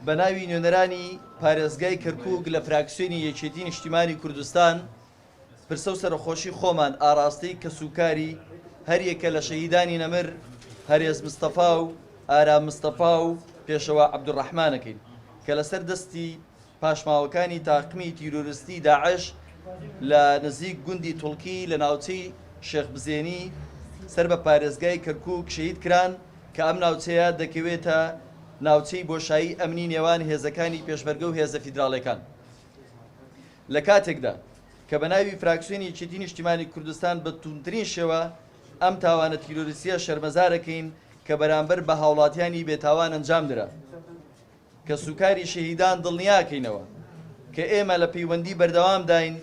بە ناوی نوێنەرانی پارێزگای کەرکووک لە فراکسیۆنی یەکێتی نیشتیمانی کوردستان پرسە و سەرەخۆشی خۆمان ئاراستەی کەس و کاری هەر یەکە لە شەهیدانی نەمر هەرێز مستەفا و ئارام مستەفا و پێشەوا عەبدولڕەحمان ئەکەین کە لەسەر دەستی پاشماوەکانی تاقمی تیرۆرستی داعش لە نزیک گوندی توڵکی لە ناوچەی شێخ بزێنی سەر بە پارێزگای کەرکووک شەهید کران. کە ئەم ناوچەیە دەکەوێتە ناوچەی بۆشایی ئەمنی نێوان هێزەکانی پێشمەرگە و هێزە فیدراڵیەکان لە کاتێکدا کە بە ناوی فراکسیۆنی یەکێتی نیشتیمانی کوردستان بە توندترین شێوە ئەم تاوانە تیرۆریستیە شەرمەزارەکەین کە بەرامبەر بە هاوڵاتیانی بێتاوان ئەنجام درا کە سوکاری شەهیدان دڵنیاکەینەوە کە ئێمە لە پەیوەندی بەردەوامداین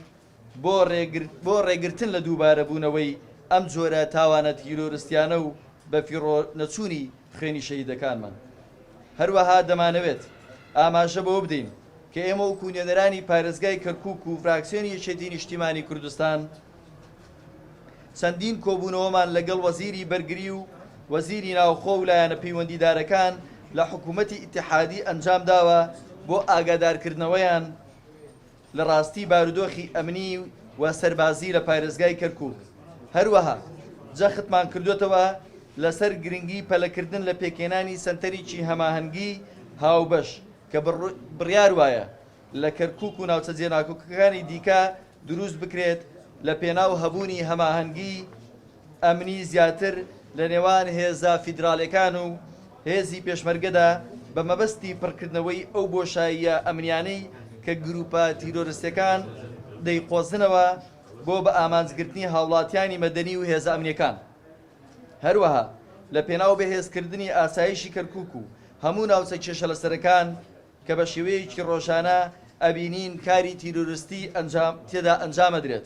بۆ ڕێگرتن لە دووبارەبوونەوەی ئەم جۆرە تاوانە تیرۆرستیانە و بەفیڕۆ نەچوونی خوێنی شەهیدەکانمان. هەروەها دەمانەوێت ئاماژە بەوە بدەین کە ئێمە وەکو نوێنەرانی پارێزگای کەرکوک و فراکسیۆنی یەکێتی نیشتیمانی کوردستان چەندین کۆبوونەوەمان لەگەڵ وەزیری بەرگری و وەزیری ناوخۆ و لایەنە پەیوەندیدارەکان لە حکومەتی ئیتحادی ئەنجامداوە بۆ ئاگادارکردنەوەیان لە ڕاستی بارودۆخی ئەمنی و سەربازی لە پارێزگای کەرکووک. هەروەها جەختمان کردووەتەوە لەسەر گرنگی پەلەکردن لە پێکهێنانی سەنتەریی هەماهەنگی هاوبەش کە بڕیار وایە لە کەرکووک و ناوچە جێناکۆکەکانی دیکە دروست بکرێت لە پێناو هەبوونی هەماهەنگی ئەمنی زیاتر لە نێوان هێزە فیدراڵیەکان و هێزی پێشمەرگەدا بە مەبەستی پڕکردنەوەی ئەو بۆشاییە ئەمنیانەی کە گروپە تیرۆرستیەکان دەیقۆزنەوە بۆ بە ئامانج گرتنی هاوڵاتیانی مەدەنی و هێزە ئەمنیەکان هەروەها لە پێناو بەهێز کردنی ئاسایشی کەرکوک و هەموو ناوچە کێشە لەسەرەکان کە بە شێوەیەکی ڕۆژانە ئەبینین کاری تیرۆرستی ئەنجام تێدا ئەنجامەدرێت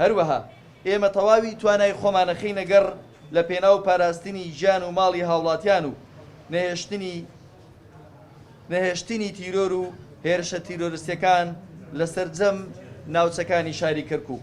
هەروەها ئێمە تەواوی توانای خۆمانەخەینە گەڕ لە پێناو پاراستنی گیان و ماڵی هاوڵاتیان و نەهێشتنی نەهێشتنی تیرۆر و هێرشە تیرۆرستیەکان لە سەرجەم ناوچەکانی شاری کەرکوک.